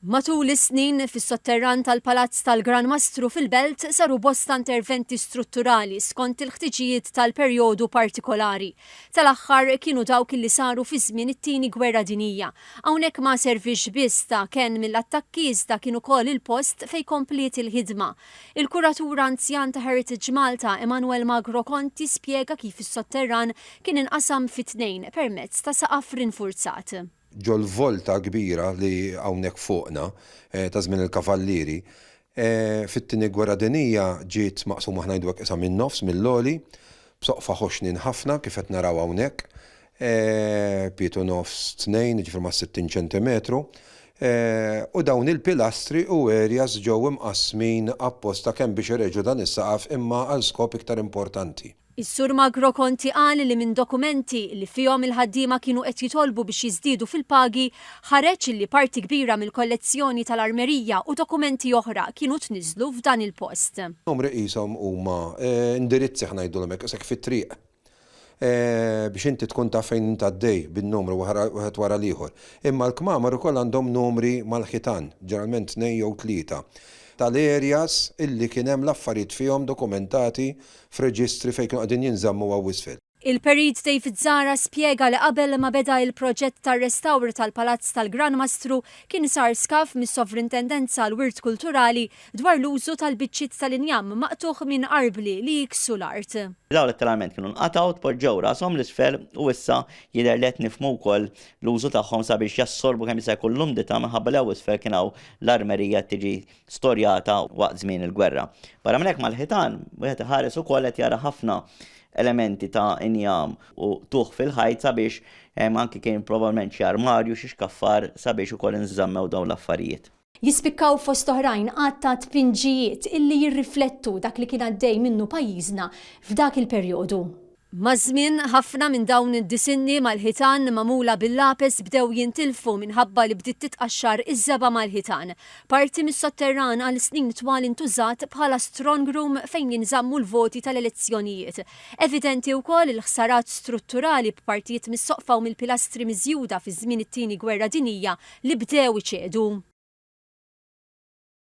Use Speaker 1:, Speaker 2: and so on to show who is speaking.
Speaker 1: Matul is-snin, fis-sotterran tal-Palazz tal-Gran Mastru fil-Belt saru bosta interventi strutturali skont il-ħtiġijiet tal-perjodu partikolari. Tal-aħħar kienu dawk li saru fi żmien it-Tieni Gwerra Dinjija. Hawnhekk ma servix biss ta' kenn mill-attakki iżda kien ukoll il-post fejn kompliet il-ħidma. Il-kuratur anzjan ta' Heritage Malta, Emmanuel Magro Conti spjega kif is-sotterran kien inqasam fi tnejn permezz ta' saqaf rinfurzat. ġol-volta
Speaker 2: kbira li hawnhekk fuqna, ta' żmien il-Kavallieri. Fit-Tieni Gwerra Dinjija ġiet maqsuma aħna ngħidu hekk qisha min-nofs mill-għoli, b'soqfa ħoxnin ħafna kif qed naraw hawnhekk, pietu nofs tnejn, jiġifieri mas-sittin ċentimetru, u dawn il-pilastri u areas ġew imqassmin apposta kemm biex ireġgħu dan is-saqaf imma għal skop iktar importanti. Is-Sur Magro
Speaker 1: Conti qal li minn dokumenti li fihom il-ħaddiema kienu qed jitolbu biex jiżdiedu fil-pagi ħareġ li parti kbira mill-kollezzjoni tal-armerija u dokumenti oħra kienu tniżżlu f'dan il-post. Numri qishom
Speaker 2: huma indirizzi ħa ngħidulhom hekk, qisek fit-triq biex inti tkun taf fejn int għaddej bin-numru wieħed wara l-ieħor. Imma l-kmamar ukoll għandhom numri mal-ħitan, ġeneralment tnejn jew tlieta, tal-areas illi kien hemm l-affarijiet fihom dokumentati f'reġistri fejn kienu qegħdin jinżammu hawn isfel. Il-Perit David
Speaker 1: Zahra spjega li qabel ma beda il-proġett tar-restawr tal-Palazz tal-Gran Mastru kien sar skaf mis-Sovrintendenza għall-Wirt Kulturali dwar l-użu tal-biċċiet tal-injam maqtugħ minn arbli li jiksu l-art. Dawn letteralment kienu
Speaker 3: nqatgħu, tpoġġew rasthom 'l isfel u issa jidher li qed nifhmu wkoll l-użu tagħhom sabiex jassorbu kemm jista' jkun l-umdità minħabba li hawn isfel kien hawn l-armerija qed tiġi storjata waqt żmien il-gwerra. Barra minn hekk mal-ħitan wieħed iħares ukoll qed jara ħafna elementi ta' injam u tuħ fil-ħajt sabiex hemm anki kien probabbilment xi armarju, xi xkaffar sabiex ukoll inżammew dawn l-affarijiet. Jispikkaw fost
Speaker 1: oħrajn għadd ta' tpinġijiet illi jirriflettu dak li kien għaddej minnu pajjiżna f'dak il-perjodu. Maż-żmien, ħafna minn dawn id-disinni mal-ħitan magħmula bil-lapes bdew jintilfu minħabba li bdiet titqaxxar iż-żebgħa mal-ħitan. Parti mis-sotterran għal snin twal intużat bħala strongroom fejn jinżammu l-voti tal-elezzjonijiet. Evidenti wkoll il-ħsarat strutturali b'partijiet mis-soqfa u mill-pilastri miżjuda fi żmien it-Tieni Gwerra Dinjija li bdew iċedu.